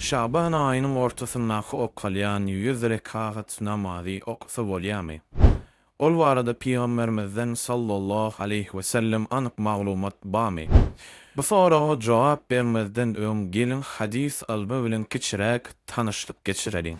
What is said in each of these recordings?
Şaban aýynyň ortasyndaky okalýan ýüz rekagat namazy okasa bolýarmy? Ol barada Pygamberimizden sallallahu aleýhi wesellem anyk maglumat barmy? Bu soraga jogap bermezden öň geliň hadys ylmy bilen kiçiräk tanyşlyk geçireliň.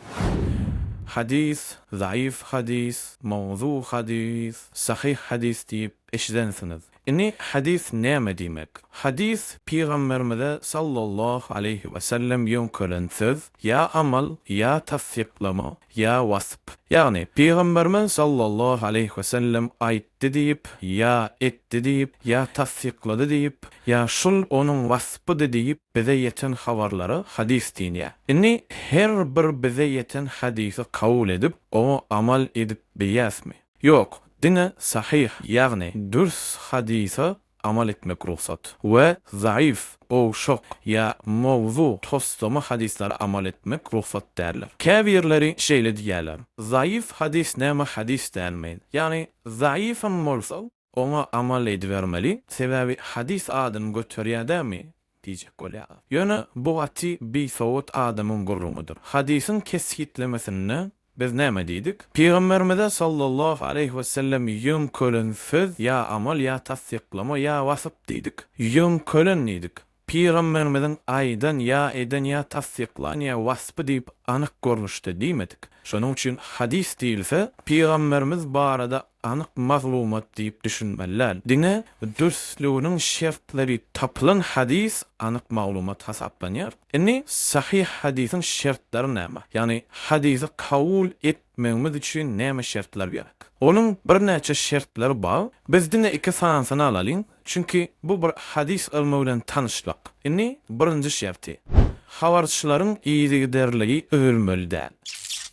Hadys, zaýyf hadys, mawzu hadys, sahyh hadys diýip eşidensiňiz. Indi hadys näme diýmek? Hadys, Pygamberimize sallallahu aleýhi wesellem ýöňkelen söz, ýa amal, ýa tassyklama, ýa wasp. Ýagny, Pygamberimiz sallallahu aleýhi wesellem aýtdy diýip, ýa etdi diýip, ýa tassyklady diýip, ýa şul onuň waspydy diýip bize ýeten habarlara hadys diýilýär. Indi her bir bize ýeten hadysy kabul edip, oňa amal edip bilýäsmi? Ýok, diňe sahyh, ýagny dürs hadysa amal etmek rugsat we zaýyf, gowşak ýa mowzu, toslama hadyslara amal etmek rugsat däldir. Käbirleri şeýle diýýärler, Zaýyf hadys näme hadys dälmi? Ýagny zaýyfam bolsa, Oňa amal edibermeli, sebäbi hadys adyny göterýär dämi? diýjek bolýar. Ýöne bu gaty bisowat adamyň gürrüňidir. Hadysyň kesgitlemesinde biz näme diýdik? Pygamberimize sallallahu aleýhi wesellem ýöňkelen söz ýa amal ýa tassyklama ýa wasyp diýdik. Ýöňkelen diýdik. Pygamberimiziň aýdan ýa eden ýa tassyklan ýa waspy diýip anyk görnüşde diýmedik. Şonuň üçin hadys diýilse, pygamberimiz barada anyk maglumat diýip düşünmeli däl. Diňe dürsliginiň şertleri tapylan hadys anyk maglumat hasaplanýar. Indi sahyh hadysyň şertleri näme? Ýagny hadysy kabul etmegimiz üçin näme şertler gerek? Onuň birnäçe şertleri bar. Biz diňe iki sanysyny alalyň. Çünki bu bir hadys ylmy bilen tanyşlyk. Indi birinji şerti, habarçylaryň yzygiderligi üzülmeli däl.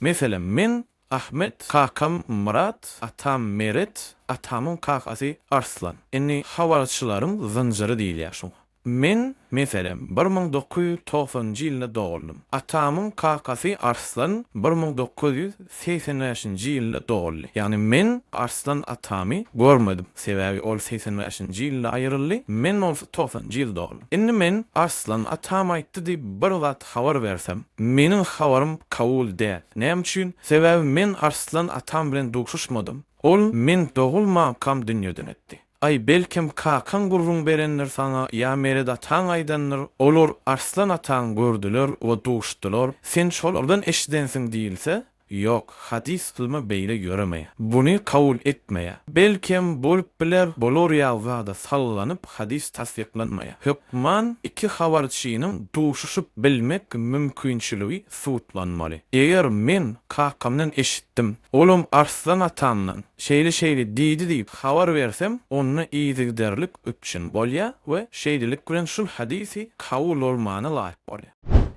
Meselem, men Ahmet, kakam Myrat, atam Meret, atamyň kakasy Arslan. Indi habarçylaryň zynjyry diýilýär şuňa. Men, meselem, bir müň dokuz ýüz togsanynjy ýylynda doguldym. Atamyň kakasy Arslan bir müň dokuz ýüz segsen bäşinji ýylda doguldy. Ýagny men Arslan atamy görmedim. Sebäbi ol segsen bäşinji ýylda aýryldy, men bolsa togsanjy ýyl dogdum. Indi men Arslan atam aýtdy diýip bir zat habar bersem, meniň habarym kabul däl. Näme üçin? Sebäbi men Arslan atam bilen duşuşmadym. Ol men dogulmankam dünýeden ötdi. Aý, belkem, kakaň gürrüň berendir saňa ýa Meret ataň aýdandyr, olar Arslan ataňy gördüler we duşdular, sen şolardan eşidensiň diýilse, ýok, hadys ylmy beýle ýöremeýär. Buny kabul etmeýär. Belkem, bolup biler, bolar ýaly zada sallanyp hadys tassyklanmaýar. Hökman iki habarçynyň duşuşyp bilmek mümkinçiligi sudlanmaly. Eger men kakamdan eşitdim, olam Arslan atamdan şeýle-şeýle diýdi diýip habar bersem, onda yzygiderlik üpjün bolýar we şeýlelik bilen şul hadysy kabul bolmana laýyk bolýar.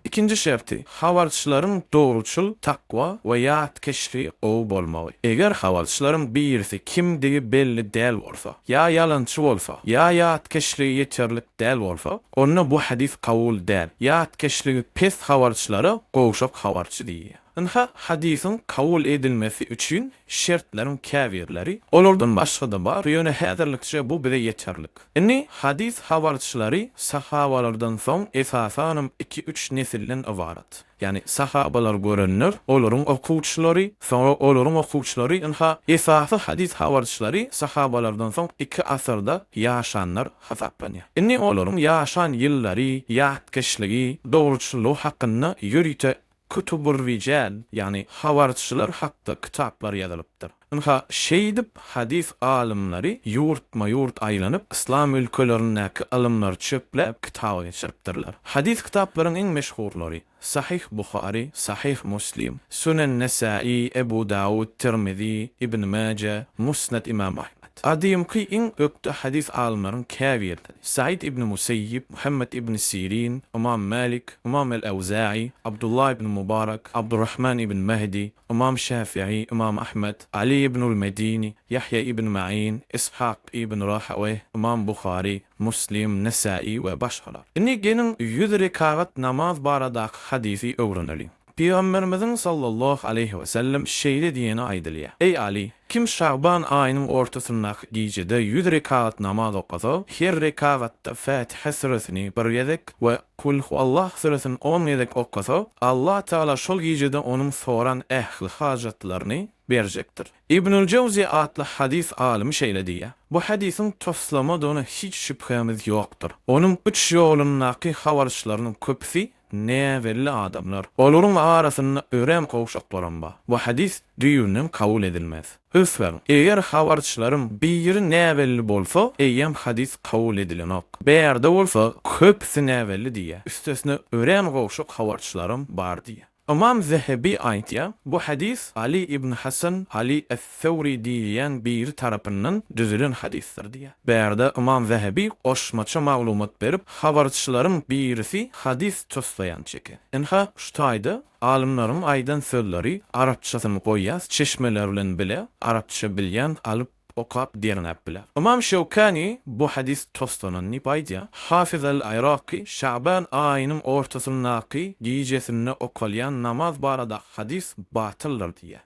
Ikinji şerti, habarçylaryň dogruçyl, takwa we ýatkeşligi gowy bolmagy. Eger habarçylaryň birisi kimdigi belli däl bolsa, ýa ýalançy bolsa, ýa ýatkeşligi ýeterlik, Däl bolsa, onda bu hadys kabul däl. Ýatkeşligi pes habarçylara gowşak habarçy diýilýär. Ynha, hadysyň kabul edilmesi üçin şertleriň käbirleri, olardan başga-da bar, ýöne häzirlikçe bu bize ýeterlik. Indi, hadys habarçylary sahabalardan soň esasanam iki-üç nesilden ybarat. Ýagny sahabalary görenler, olaryň okuwçylary, soňra olaryň okuwçylary, ynha, esasy hadys habarçylary sahabalardan soň iki asyrda ýaşanlar hasaplanýar. Indi olaryň ýaşan ýyllary, ýatkeşligi, dogruçyllygy hakynda ýörite kütübur-rijäl, ýagny habarçylar hakda kitaplar ýazylypdyr. Ynha, şeýdip, hadys alymlary ýurtma-ýurt aýlanyp, yslam ülkelerindäki ylymlary çöpläp, kitaba geçiripdirler. Hadys kitaplaryň iň meşhurlary, Sahyh Buhary, Sahyh Muslim, Sünen Nesäi, Ebu Dawud, Tirmizi, Ibn Maje, Musned Imam Ahmed. Gadymky iň ökde hadys alymlaryň käbirleri, Said ibn Museýib, Muhammed ibn Sirin, Ymam Malik, Ymam el-Awza'i, Abdullah ibn Mubarak, Abdurrahman ibn Mahdi, Ymam Şäfiý, Ymam Ahmet, Aly ibnul Medini, Ýahýa ibn Maýin, Yshak ibn Rahaweýh, Ymam Buhary, Muslim, Nesäi we başgalar. Indi geliň ýüz rekagat namaz baradaky hadysy öwreneliň. Pygamberimiziň sallallahu aleýhi wesellem şeýle diýeni aýdylýar, Eý Aly! Kim şaban aýynyň ortasyndaky gijede ýüz rekat namaz okasa, her rekatda Fätihe süresini bir gezek we Kul huwallah süresini on gezek okasa, Allah Tagala şol gijede onuň soran ähli hajatlaryny berjekdir. Ibnül Jawzy atly hadys alymy şeýle diýýär, Bu hadysyň toslamadygyna hiç şübhämiz ýokdur. Onuň üç ýolundaky habarçylarynyň köpüsi Näbelli adamlar. Olaryň arasynda örän gowşaklaram bar. Bu hadys düýbünden kabul edilmez. Ünsberiň, eger habarçylaryň biri näbelli bolsa, eýýäm hadys kabul edilenok. Bärde bolsa, köpüsi näbelli diýýär. Üstesine örän gowşak habarçylaram bar diýýär. Ymam Zehebi aýtýar, Bu hadys Aly ibn Hasan, Aly es, Sewri diýilýän biri tarapyndan düzülen hadysdyr diýýär. Bärde Ymam Zehebi goşmaça maglumat berip, habarçylaryň birisi hadys toslaýan çeki. Ynha, şu taýda alymlaryň aýdan sözleri arapçasyny goýýas, çeşmeler bilen bile arapça bilýän alyp okap derňäp biler. Ymam Şewkani bu hadys toslanan diýip aýdýar. Hafiz al-Yraky Şaban aýynyň ortasyndaky gijesinde okalýan namaz barada hadys batyldyr diýýär.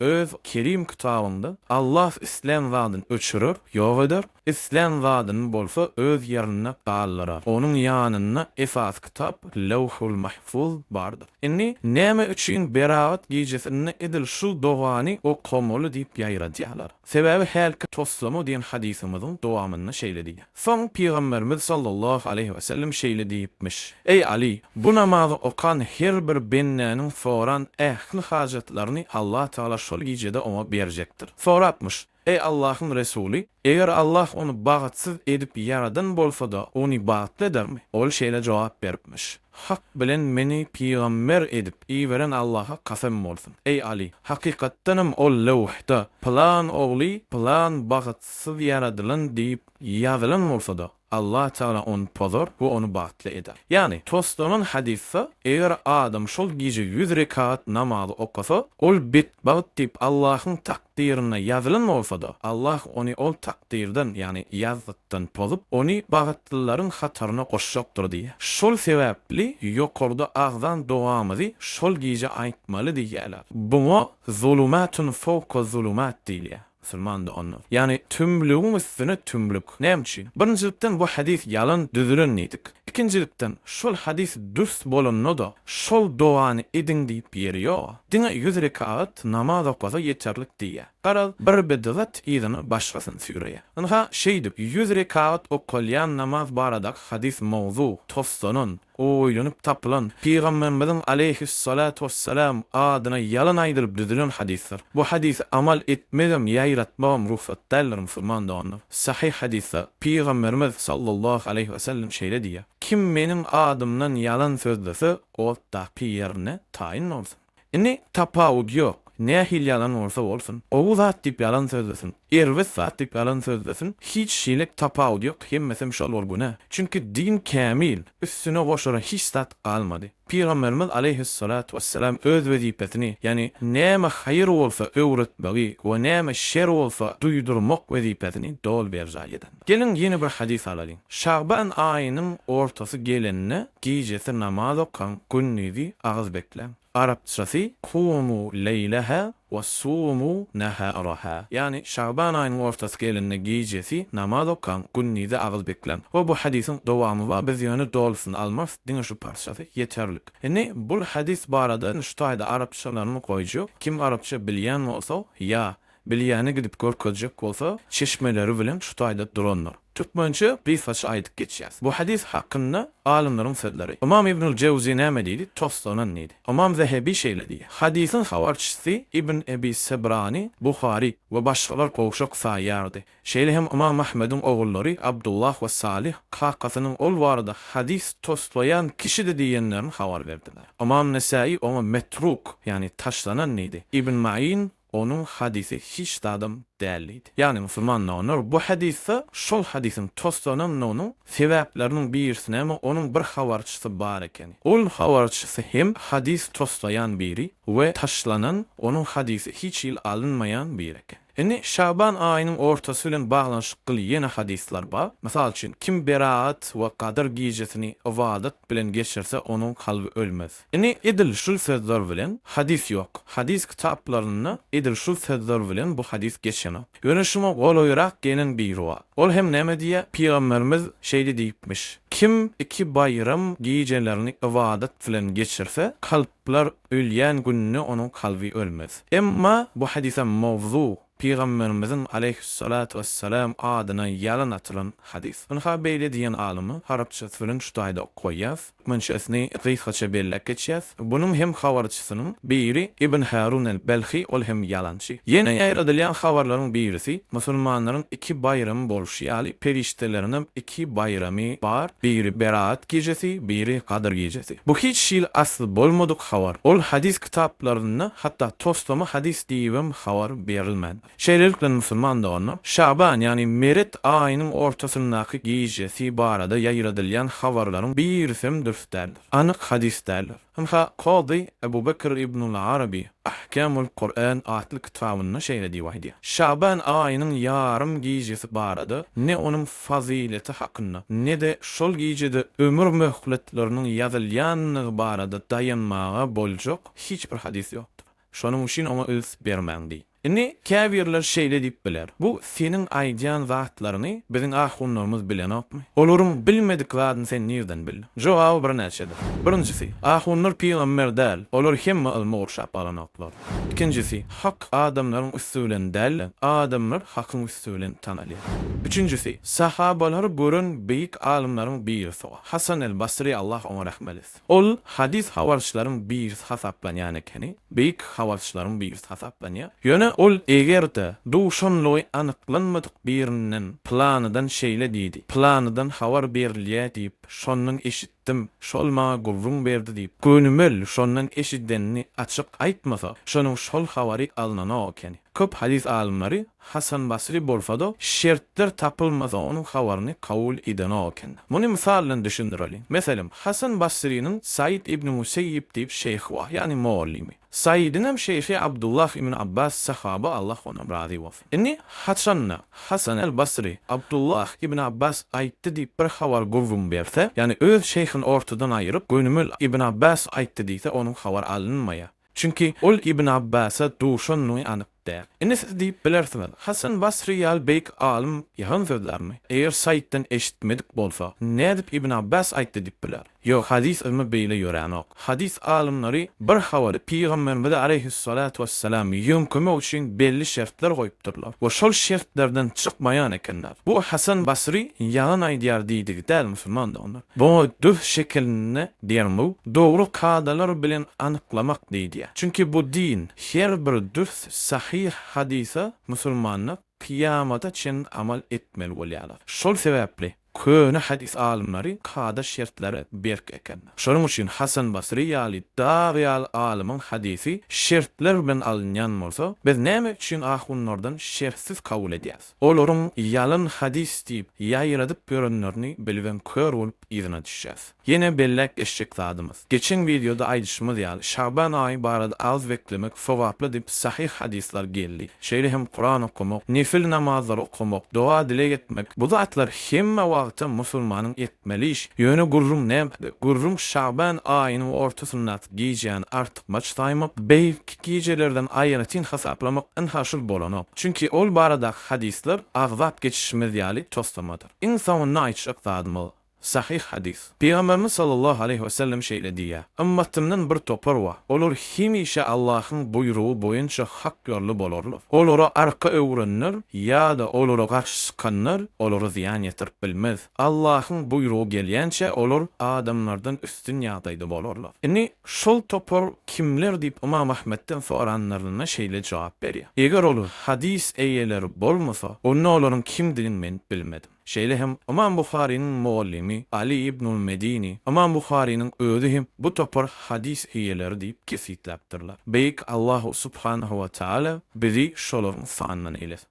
Öz Kerim kitabynda, Allah islän zadyny öçürer, ýok eder, islän zadyny bolsa öz ýerinde galdyrar. Onuň ýanynda esasy kitap Lewhul Mahfuz bardyr. Indi näme üçin Beragat gijesinde edil şu dogany okamaly diýip ýaýradýarlar? Sebäbi hälki toslama diýen hadysymyzyň dowamynda şeýle diýýär. Soň Pygamberimiz sallallahu aleýhi wesellem şeýle diýipmiş, Eý Aly! Bu namazy okan her bir bendäniň soran ähli hajatlaryny Allah Tagala şol gijede oňa berjekdir. Sorapmyş, Eý Allahyň Resuly! Eger Allah ony bagtsyz edip ýaradan bolsada, ony bagtly edermi? Ol şeýle jogap beripmiş, Hak bilen meni pygamber edip iberen Allaha kasam bolsun, eý Aly, hakykatdanam ol löwhda pylan ogly pylan bagtsyz ýaradylan diýip ýazylan bolsa-da, Allah Tagala ony pozar we ony bagtly eder. Ýagny, toslanan hadysda, Eger adam şol gije ýüz rekat namazy okasa, ol betbagt diýip Allahyň takdyrynda ýazylan bolsa-da, Allah ony ol takdyrdan, ýagny ýazgykdan pozup, ony bagtlylaryň hataryna goşjakdyr diýýär. Şol sebäpli ýokarda agzan dogamyzy şol gije aýtmaly diýýärler. Buňa zulumatun fowka zulumat diýilýär, musulman doganlar. Ýagny tümlügiň üstüne tümlük. Näme üçin? Birinjilikden, bu hadys ýalan düzülen diýdik. Ikinjilikden, şol hadys dürs bolanda-da, şol dogany ediň diýip ýeri ýog. Diňe ýüz rekagat namaz okasa ýeterlik diýýär. Garaz, bir bidgat yzyna başgasyny süýreýär. Ynha, şeýdip, ýüz rekagat okalýan namaz baradaky hadys mowzu, toslanan, oýlanyp tapylan, Pygamberimiziň aleýhis-salatu wes-selam adyna ýalan aýdylyp düzülen hadysdyr. Bu hadysy amal etmegem, ýaýratmagam rugsat däldir, musulman doganlar! Sahyh hadysda Pygamberimiz sallallahu aleýhi wesellem şeýle diýýär, Kim meniň adymdan ýalan sözlese, otdaky ýerine taýyn bolsun. Indi, tapawut ýok, nähili ýalan bolsa bolsun, gowy zat diýip ýalan sözlesin, erbet zat diýip ýalan sözlesin, hiç hili tapawut ýok, hemmesem şol bir günä. Çünki din kämil, üstüne goşara hiç zat galmady. Pygamberimiz aleýhyssalatu wesselam öz wezipesini, ýagny näme haýyr bolsa öwretmegi we näme şer bolsa duýdurmak wezipesini doly berjaý eden. Geliň ýene bir hadys alalyň. Şaban aýynyň ortasy gelende gijesi namaz okaň, gündizi agyz bekläň. Arapçasy, Kumu leýleha Wasumu naharaha, ýagny Şaban aýynyň ortasy gelende gijesi namaz okaň, gündizi agyz bekläň. Hoo bu hadysyň dowamy bar, biz ýöne dolusyny almarys, diňe şu parçasy ýeterlik. Indi bul hadys barada şu taýda arapçalarymy goýju, kim arapça bilýän bolsa ýa bilýäni gidip görkezjek bolsa çeşmeleri bilen şu taýda durandyr. Türkmençe gysgaça aýdyp geçýäs. Bu hadys hakynda alymlaryň sözleri. Ymam Ibnül Jewzi näme diýdi? Toslanan diýdi. Ymam Zehebi şeýle diýýär, Hadysyň habarçysy Ibn Ebi Sebrany Buhary we başgalar gowşak saýýardy. Şeýle hem Ymam Ahmediň ogullary Abdullah we Salyh kakasynyň ol barada hadys toslaýan kişidi diýenlerini habar berdiler. Ymam Nesaýy oňa metruk, ýagny taşlanan diýdi. Ibn Maýyn Onuň hadysy hiç zadam däl diýdi. Ýagny musulmanlar olar bu hadysda şol hadysyň toslanandygynyň sebäpleriniň birisini hem onuň bir habarçysy bar ekeni. Ol habarçysy hem hadys toslaýan biri we taşlanan onuň hadysy hiç hili alynmaýan biri eken. Indi Şaban aýynyň ortasy bilen baglanyşykly ýene hadyslar bar. Mysal üçin, kim beraat we gadyr gijesini ybadat bilen geçirse onuň kalby ölmez. Ine, edil şul sözler bilen hadys ýok. Hadys kitaplarynda edil şul sözler bilen bu hadys geçenok. Ýöne şuňa golaýrak gelen biri bar. Ol hem näme diýýär? Pygamberimiz şeýle diýipmiş, Kim iki baýram gijelerini ybadat bilen geçirse, kalplar ölýän gününe onuň kalby ölmez. Emma bu hadysam mowzu, Pygamberimiziň, aleýhüssalatu wessalam, adyna ýalan atylan hadys. Ynha beýle diýen alymy arapçasy bilen şu taýda ok goýýas, münşesini gysgaça belläp geçýäs, Bunuň hem habarçysynyň biri Ibn Harun el-Belhi, ol hem ýalançy. Ýene ýaýradylýan habarlaryň birisi, Musulmanlaryň iki baýramy bolşy ýaly, perişdeleriňem iki baýramy bar, biri Beraat gijesi, biri Gadyr gijesi. Bu hiç hili asly bolmadyk habar. Ol hadys kitaplarynda hatda toslama hadys diýibem habar berilmän. Şeýlelikde musulman dogany Şaban, ýagny meret aýynyň ortasyndaky gijesi barada ýaýradylýan habarlaryň birisem dürs däldir, anyk hadys däldir. Ynha, Kazy Ebu Bekr Ibnul Arabi Ahkamul Kur'an atly kitabynda şeýle diýip aýdýar, Şaban aýynyň ýarym gijesi barada ne onuň fazyleti hakynda, ne-de şol gijede ömür möhletleriniň ýazylýandygy barada daýanmaga boljak hiç bir hadys ýokdur. Şonuň üçin oňa üns bermäň diý. Indi, käbirler şeýle diýip biler, Bu seniň aýdýan zatlaryňy biziň ahunlarymyz bilenokmy? Olaryň bilmedik zadyny sen nirden bildiň? Jogaby birnäçedir. Birinjisi, ahunlar pygamber däl, olar hemme ylmy gurşap alanoklar. Ikinjisi, hak adamlaryň üsti bilen däl-de, adamlar hakyň üsti. şahsyýeti bilen tanalýar. Üçünjisi, sahabalary gören beýik alymlaryň birisi Hasan el Basry Allah oňa rahmet etsin. Ol hadys habarçylaryň birisi hasaplanýan ekeni, beýik habarçylaryň birisi hasaplanýar. Ýöne ol eger-de duşanlygy anyklanmadyk birinden Pylanydan şeýle diýdi, pylanydan habar berilýär diýip, şondan eşitdim, şol maňa gürrüň berdi diýip, gönümel şondan eşidenini açyk aýtmasa, şonuň şol habary alnanok ekeni. Köp hadys alymlary Hasan Basry bolsa-da, şertler tapylmasa onuň habaryny kabul edenok eken. Muny mysal bilen düşündireliň. Meselem, Hasan Basrynyň Saýid ibn Müseýýib diýip şeýhi bar, ýagny mugallymy. Saýidiňem şeýhi Abdullah ibn Abbas sahaba Allah ondan razy bolsun. Indi, haçan-da, Hasan el Basry, Abdullah ibn Abbas aýtdy diýip bir habar gürrüň berse, ýagny öz şeýhini ortadan aýyryp, gönümel ibn Abbas aýtdy diýse, onuň habar alynmaýar. Çünki ol Ibn Abbasa duşandygy anyk däl. Indi siz diýip bilersiňiz, Hasan Basry ýaly beýik alym ýalan sözlärmi? Eger Saýtdan eşitmedik bolsa, nädip Ibn Abbas aýtdy diýip biler? Ýok, hadys ylmy beýle ýöränok. Hadys alymlary bir habary Pygamberimize aleýhyssalatu wessalam ýöňkemek üçin belli şertler goýupdyrlar we şol şertlerden çykmaýan ekenler. Bu Hasan Basry ýalan aýdýar diýdigi däl musulmandygyny. Bu düz şekilini derňew, dogry kadalar bilen anyklamak diýilýär. Çünki bu din, her bir düz, sahyh hadysa musulmanlar kyýamata çenli amal etmeli bolýarlar. Şol sebäpli köne hadys alymlary kada şertleri berk eken. Şonuň üçin Hasan Basry ýaly dag ýaly alymyň hadysy şertler bilen alynýan bolsa, biz näme üçin ahunlardan şertsiz kabul edýäs? Olaryň ýalan hadys diýip ýaýradyp ýörenlerini bilibem kör bolup yzyna düşýäs. Ýene belläp geçjek zadymyz. Geçen wideoda aýdyşymyz ýaly Şaban aýy barada az beklemek sogaply diýip sahyh hadyslar geldi. Şeýle hem Kuran okamak, nefil namazlary okamak, doga-dileg etmek bu zatlar hemme wagtam musulmanyň etmeli iş. Ýöne gürrüň nämede? Gürrüň Şaban aýynyň ortasyndaky gijäni artykmaç Maç saýmak, beýik gijelerden aýratyn hasaplamak ynha şul bolanok. Çünki ol baradaky hadyslar agzap geçişimiz ýaly toslamadyr. Iň soňunda aýtjak zadymyz, sahyh hadys. Pygamberimiz sallallahu aleýhi we sellem şeýle diýýär, Ymmatymdan bir topar bar, olar hemişe Allahyň buýrugy boýunça hak ýolly bolarlar. Olara arka öwrenler ýa-da olara garşy çykanlar olara zyýan ýetirip bilmez. Allahyň buýrugy gelýänçä olar adamlardan üstün ýagdaýda bolarlar. Indi şol topar kimler diýip Ymam Ahmetden soranlarynda şeýle jogap berýär, Eger ol hadys eýeleri bolmasa, onda olaryň kimdigini men bilmedim. Şeýle hem Ymam Buharynyň mugallymy Aly ibnul Medini, Ymam Buharynyň özi hem bu topar hadys eýeleri diýip kesgitläpdirler. Beýik Allahu subhanahu we taala bizi şolaryň sanyndan eýlesin.